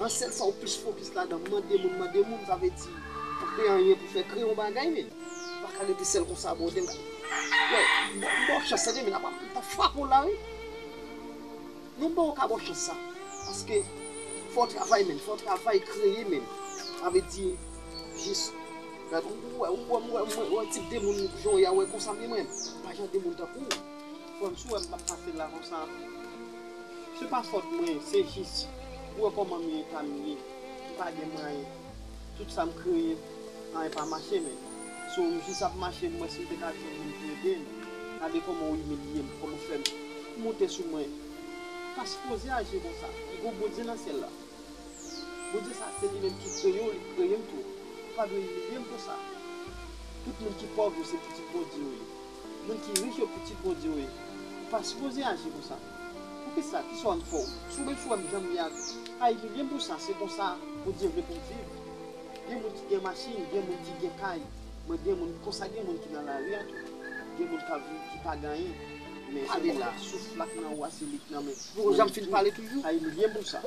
An sèl sa ou plis fokis ladan mande moun mande moun sa vle di pou kreye anyen pou fè kreye yon bagay men ou paka rete sèl konsa brother m baw chans tande men m tap frape w la wi non bro ou paka baw chans sa paske fòw travay menn fòw travay kreye menn sa vle di jis ou wè m wè m wè tip de moun jan w ye a wè konsa m ye mwen m pa jan de moun tankou w fòm si w wè m pap pase la konsa. Se pa fòt mwen se jis ou wè kòman m ye eta m ye m pa gen mwayen tout sa m kreye anyen pa mache menm so m jis ap mache m wè si m te ka jwenn moun pou ede m gade kòman w imilye m kòman w fè m moute sou mwen ou pa sipoze aji konsa e gon Bondye nan syèl la Bondye sa se li menm ki kreye w li t kreye m tou ou pa dwe imilye m konsa tout moun ki pòv yo se pitit Bondye yo ye. Moun ki rich yo pitit Bondye yo ye. Ou pa sipoze aji konsa. Poukisa? Ki swa m fè w? Si w menm si w wè m jan m ye a, pa imilye m pou sa. Se konsa Bondye vle pou m viv. Gen moun ki gen machin, gen moun ki gen kay. Mwen gen moun, konsa gen moun ki nan lari a tou. Gen moun k ap viv ki pa gen anyen. Men se li la, souf la k nan ou a, se li k nan men mwen tou. Jan m fin pale toujou. Pa imilye m pou sa.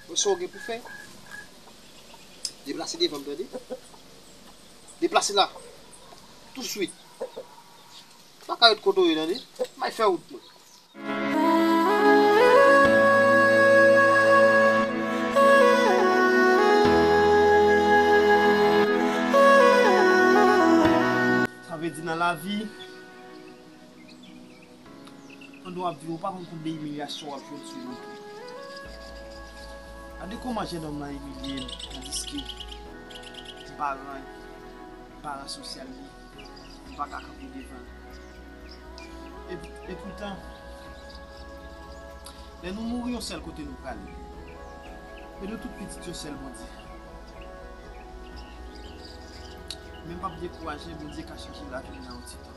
Wè sa w gen pou fè. Deplase devan m tande. Deplase la touswit. Ou pa ka ret kote w ye tande. May fè wout mwen. Sa vle di nan lavi. Pandan wap viv ou pa konn konbyen imilyasyon wap jwenn sou youtube. Gade kòman jenòm lan imilye m tandiske m pa ran m pa ran sosyal li m pa ka kanpe devan l. Epoutan lè nou mouri yon sèl kote nou prale men nou tout pitit yon sèl Bondye. Men m pap dekouraje Bondye ka chanje lavi m nan yon ti tan.